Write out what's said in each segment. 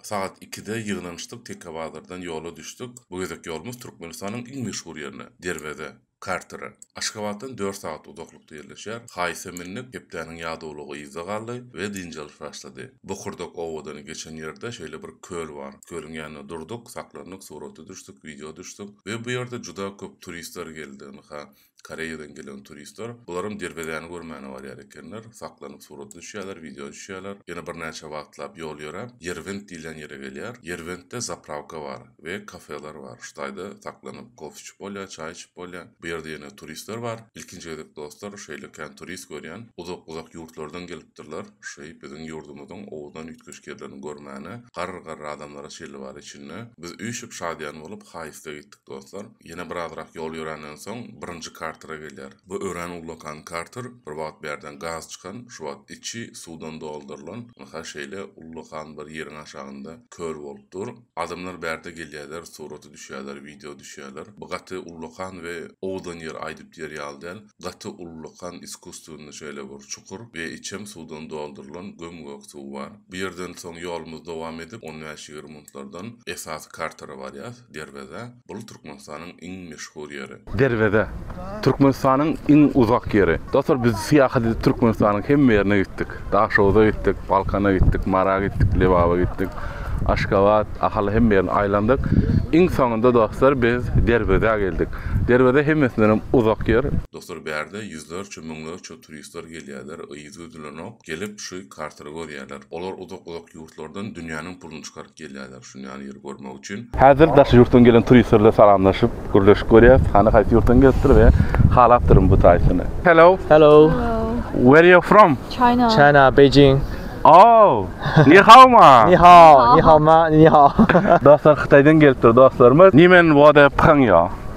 Sagat ikide ýygnanyşdyk, Teknobazardan ýola düşdük. Bu gezek ýolumyz Türkmenistanyň iň meşhur ýerine, Derweze, Kartere. Aşgabatdan dört sagat uzaklykda ýerleşýär. Haýse mündik, hepdäniň ýadawlygy yzda galdy we dynç alyş başlady. Bokurdak obadan geçen ýerde şeýle bir köl bar. Kölüň ýanynda durduk, saklandyk, surata düşdük, wideo düşdük we bu ýerde juda köp turistler geldi. Ynha, Koreýadan gelen turistler bularam derwezäni görmäne barýar ekenler, saklanyp surata düşýärler, wideo düşýärler. Ýene birnäçe wagtlap ýol ýöräp, Ýerwent diýilýän ýere gelýär. Ýerwentde zaprawka bar we kafeler bar. Şu taýda saklanyp kofe içip bolýar, çaý içip bolýar. Bu ýerde ýene turistler bar. Ilkinji gezek dostlar şeýle kän turist görýän. Uzak-uzak ýurtlardan gelipdirler. Şeý biziň ýurdumyzyň owadan üýtgeşik ýerlerini görmäne. Garry-garry adamlar-a şeýle bar içinde. Biz üýşüp şadyýan bolup haýysta gitdik dostlar. Ýene birazrak ýol ýörenden soň, birinji Kartera gelýär. Bu örän ullakan Karter, bir wagt bärden gaz çykan, şu wagt içi suwdan doldurylan, ynha şeýle ullakan bir ýeriň aşagynda kör bolup dur. Adamlar bärde gelýärler, surata düşýärler, wideo düşýärler. Bu gaty ullakan we owadan ýer aýdyp diýer ýaly däl. Gaty ullakan iskusstwennyi şeýle bir çukur we içem suwdan doldurylan göm-gök suw bar. Bu ýerden soň ýolumyzy dowam edip, on bäş-ýigrimi minutlardan esasy Kartera barýas. Derweze, bul Türkmenistanyň iň meşhur ýeri. Derweze, Türkmenistanyň iň uzak ýeri. Dostlar biz syýahat edip Türkmenistanyň hemme ýerine gitdik. Daşoguza gitdik, Balkana gitdik, Mara gitdik, Lebaba gitdik, Aşgabat, Ahal hemme ýerini aýlandyk. Iň soňunda dostlar biz Derwezä geldik. Derweze hemmesindenem uzak ýer. Dostlar bärde ýüzlerçe müňlerçe turistler gelýärler yzy üzülenok gelip şu kartary görýärler. Olar uzak uzak ýurtlardan dünýäniň pulyny çykaryp gelýärler. düşünýän ýeri görmek üçin. Häzir daşary ýurtdan gelen turistler bilen salamlaşyp, gürleşip görýäs. Hany haýsy ýurtdan gelipdir we halapdyryn bu taýsyny. Hello. Hello. Where you from? China. China, Beijing. Oh. Ni hao ma. Ni hao, ni hao ma, ni hao. Dostlar Hytaýdan gelipdir dostlarymyz. Nimen wada pyhaň ýa.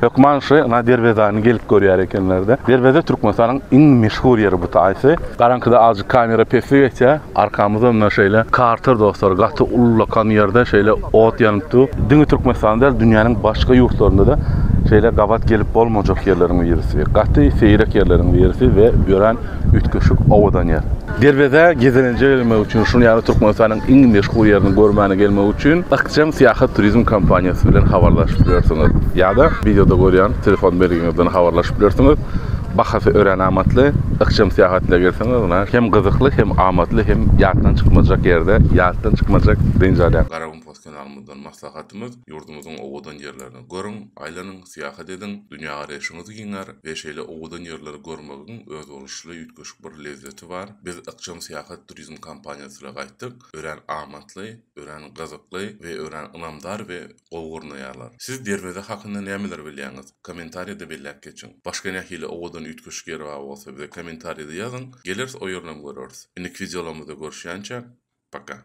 Hökman şy na derwezäni gelip görýär ekenlerde. Derweze Türkmenistanyň iň meşhur ýeri bu taýsy. Garaňkyda azjyk kamera pesli geçýär. Arkamyzda mundan şeýle karter dostlar gaty ullakan ýerde şeýle ot ýanyp dur. Diňe Türkmenistanda däl dünýäniň başga ýurtlarynda-da şeýle gabat gelip bolmajak ýerleriň birisi. Gaty seýrek ýerleriň birisi we örän üýtgeşik owadan ýer. Derwezä gezelenje gelmek üçin, şuny ýaly Türkmenistanyň iň meşhur ýerini görmäne gelmek üçin Ykjam Syýahat Turizm kompaniýasy bilen habarlaşyp bilersiňiz ýa-da wideoda görýän telefon belgiňizden habarlaşyp bilersiňiz. Bahasy örän amatly. Ykjam Syýahat ile gelseňiz, ynha, hem gyzykly, hem amatly, hem ýatdan çykmajak ýerde ýatdan çykmajak dynç alýan. Garagum Post kanalymyzdan maslahatymyz, ýurdumyzyň owadan ýerlerini görüň, aýlanyň! Syýahat ediň, dünýägaraýşyňyz giňär we şeýle owadan ýerleri görmegiň özboluşly üýtgeşik bir lezzeti bar. Biz ykjam syýahat turizm kampaniýasyla gaýtdyk. Örän amatly, örän gyzykly we örän ynamdar we gowy gurnaýarlar. Siz Derweze hakynda nämeleri bilýäňiz? Kommentariýada belläp geçiň. Başga nähili owadan üýtgeşik ýer bar bolsa bize kommentariýada ýazyň, geleris o ýerinem göreris. Indiki wideolarymyzda görüşýänçä, paka!